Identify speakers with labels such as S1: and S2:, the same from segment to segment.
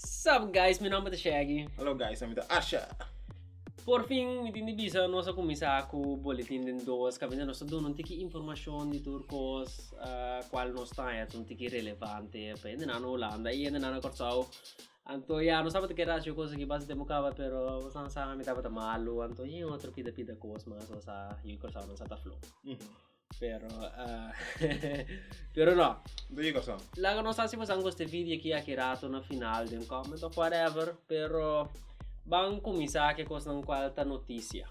S1: Sup guys, mi nomber ta Shaggy. Hallo guys, mi ta Asha. Por fin, mi tin di bisa, nos a kumisa ku boletin den dos, kabinda nos ta duna un tiki informashon di tur kos, ah, kual nos taña ta un tiki relevante pa hende nan na Hulanda i hende nan na Kòrsou. Anto ya, nos tabata keda haci kos aki basi tempu kaba, pero bo san sa, mi tabata malu, anto yin otro pida pida kos mas, nos a, yu i Kòrsounan sa ta flow. Pero ah pero no. Di e cosa. Laga nos asi pasan cos te video aquí aki rato na final den comment of whatever pero ban cuminsa ke cosnan cual ta noticia.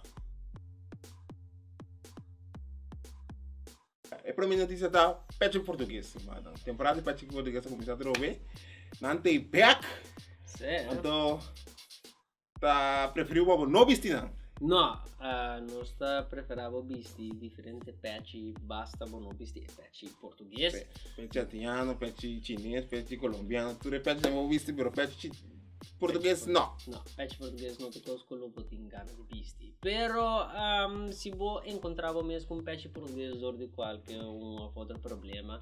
S1: E prome noticia ta Patrick Portugues mada temporada di Patrick Portugues ta cuminsa atrobe nan ta e back. Sí. Anto. ta preferiu pa bo no bisti nan? No, nos ta prefera bo bisti diferente pechi basta bo no bisti e pechi portugues. Pe, pechi atiano, pechi chines, pechi colombiano, tur e pechi bo bisti pero pechi portugues no. No, pechi portugues no ta cos cu lo bo tin gana di bisti. Pero um, si bo encontra bo mes cu un pechi portugues dor di cualke un of otro problema,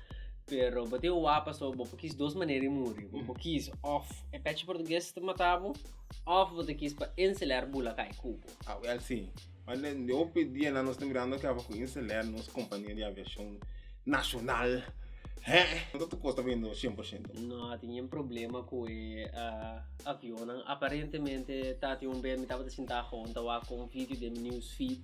S1: Pero bo tin wapa so bo por kis dos manera i muri. Bo por kis of e pechi portugues ta mata bo, of bo ta kis pa inseler bula kai ku bo. Ah, well, sí. Ma de, de hopi dianan nos ta mirando ke aba ku Inseler, nos kompania di aviashon nashonal, hè? No ta tur kos ta bendo shen por shento. No a tene problema ku e ah, avionnan. Aparentemente, tabatin un bes mi tabata sintá honta wak kon video den mi news feed.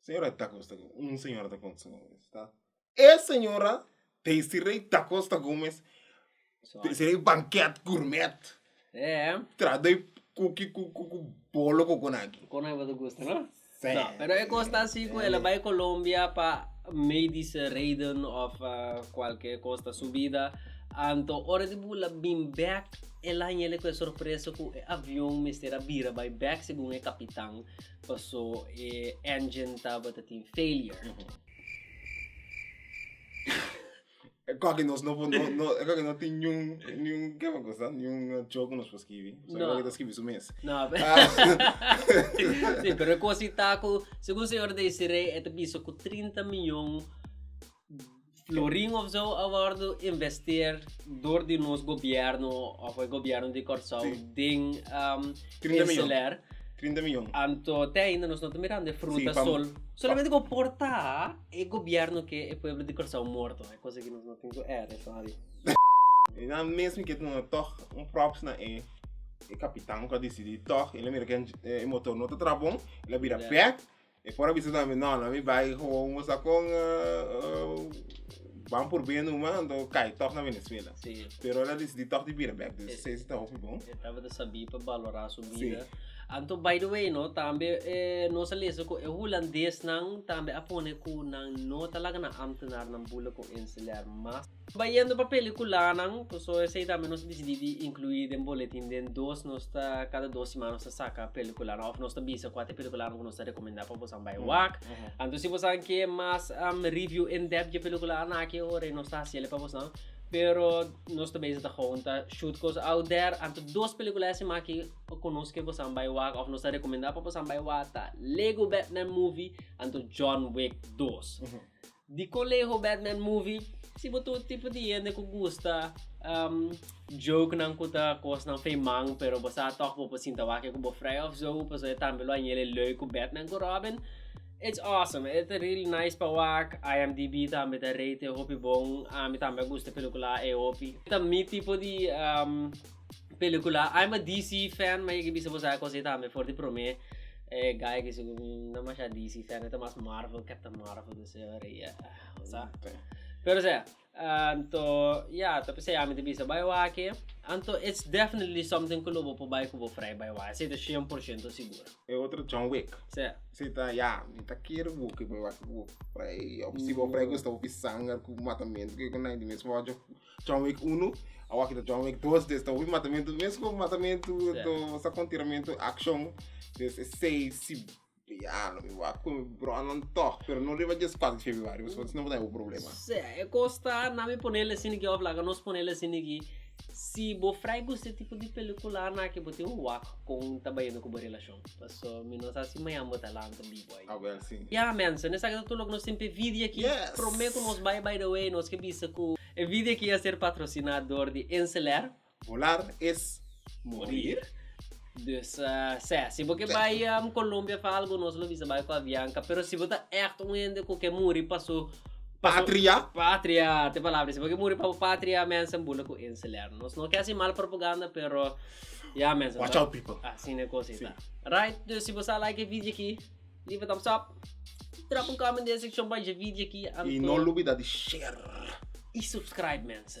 S1: señora dacosta gomez un señora dacosta gomez ta e señora desiree dacosta gomez desiree banket gurmet traha den cookie cu cu cu bolo coconaki coconaki bo ta gusta no? Seh no pero e cos ta asi cu ela bay colombia pa medische reden of cualkier cos ta subida anto ora di bo la bin bek el a hañele cu e sorpresa cu e avion mester a bira bay bek segun e capitan. Paso e engine tabata tin failure. Mm -hmm. Kaki nos no, no, no, kaki no tin ni un, ni un, kema cosa, ni un joke eh, nos por skibi. So, no. Kaki skibi su mes. No, pero... Ah. sí, pero cosa taco, según señor Desiree, este piso con 30 miljoen Florin of zo a wordo investeer door di nos gobierno of e gobierno di Corsou si. den um, insular. 30 miljoen. Anto te ainda nos no ta mirando e fruta si, sol. Solamente go porta e gobierno ke e pueblo di Corsou morto. E cosa ke nos no tin ku ere, sorry. E na mes mi ke no toch un props na e e kapitan ku a disidi toch el a mira ke e motor no ta trabon, el a bira back. E por a bisa ta mi no no mi bai ho un bosa con ban por be nu man anto cai toch na Venezuela si pero el a decidi toch di bira bek dus esey si ta hopi bon e tabata sabi pa balora su bida si anto by the way no tambe nos a lesa cu e hulandes nan tambe a pone cu nan no ta laga nan ambtenaar nan bula con enseñar mas. Bayendo pa peliculanan, cu so esey tambe nos dicidi di inclui den boletin den dos nos ta cada dos siman nos ta saca peliculanan of nos ta bisa cua ta e peliculanan cu nos ta recomenda pa bosan bay wak. Anto si bosan ke mas review in depth dje peliculanan aki e ora nos ta haciele pa bosan pero nos ta beza ta gewoon ta shoot cos out there anto dos pelicula e siman aki cu nos ke bosan bay wak of nos ta recomenda pa bosan bay wak ta Lego Batman Movie anto John Wick dos. Di Colegio Batman Movie, si bo ta un tipo di hende cu gusta um, jokenan cu ta cosnan feeman, pero bo sa toch bo por sinta wak cu bo vrij of zo, pasobra e tambe lo a yele leuk cu Batman cu Robin. It's awesome, e ta really nice pa wak, IMDb tambe ta rate e hopi bon, ami tambe a gusta e peluculanan e hopi. Ta mi tipo di um, Pelicula I'm a DC fan ma yeki bisa bo sabi cos yeta me for di prome eh guy ki sico mm no masha DC fan yeta mas Marvel captain Marvel di ese ora y ah sa pero sea anto ya ta p'esei ami ta bisa bai waki anto it's definitely something cu lo bo por bai cu bo frai bai waki esei ta cien por ciento sigur E otro John Wick sea esei ta ya mi ta kere bo cu bo bai cu bo frai of si bo frai gusta bo pi sanger cu matamento cu yecona y di mesmo ojo. John Wick uno, awaki ta John Wick dos, des ta hopi matamentu, mes ku matamentu, yeah. to sa kon tiramentu, action, des e sei, si, ya, no mi wa kon bronan toch, pero no riba jes 4 februari, pues no botai u problema. Se, e kosta, nami ponele siniki, of laga nos ponele siniki, si bo frai ku se tipo di pelikula na ke bo tin wak kon ta bayendo ku bo relashon. Paso mi no sa si mañan bo ta lanta bibo ai. Awel si. Ya mensen, esaki ta tur loke nos tin p'e video aki. Yes. Prome ku nos bai by the way nos ke bisa ku e video aki a ser patrosina dor di Enceler. Volar es morir. Dus se si bo ke bai Colombia of algu nos lo bisa bai ku Avianca. Pero si bo ta ègt un hende ku ke muri pa su. Patria. Patria, t'e palabra. Si bo ke muri pa bo patria mensen bula ku Enceler. Nos no ke hasi mal propaganda pero. Ya mes Watch out people. Asina e cosa ta. Right dus si bo sa like e video aki leave a thumbs up drop un comment den e seccion bajo e video aki anto. Y no lubida di share. Y subscribe mens.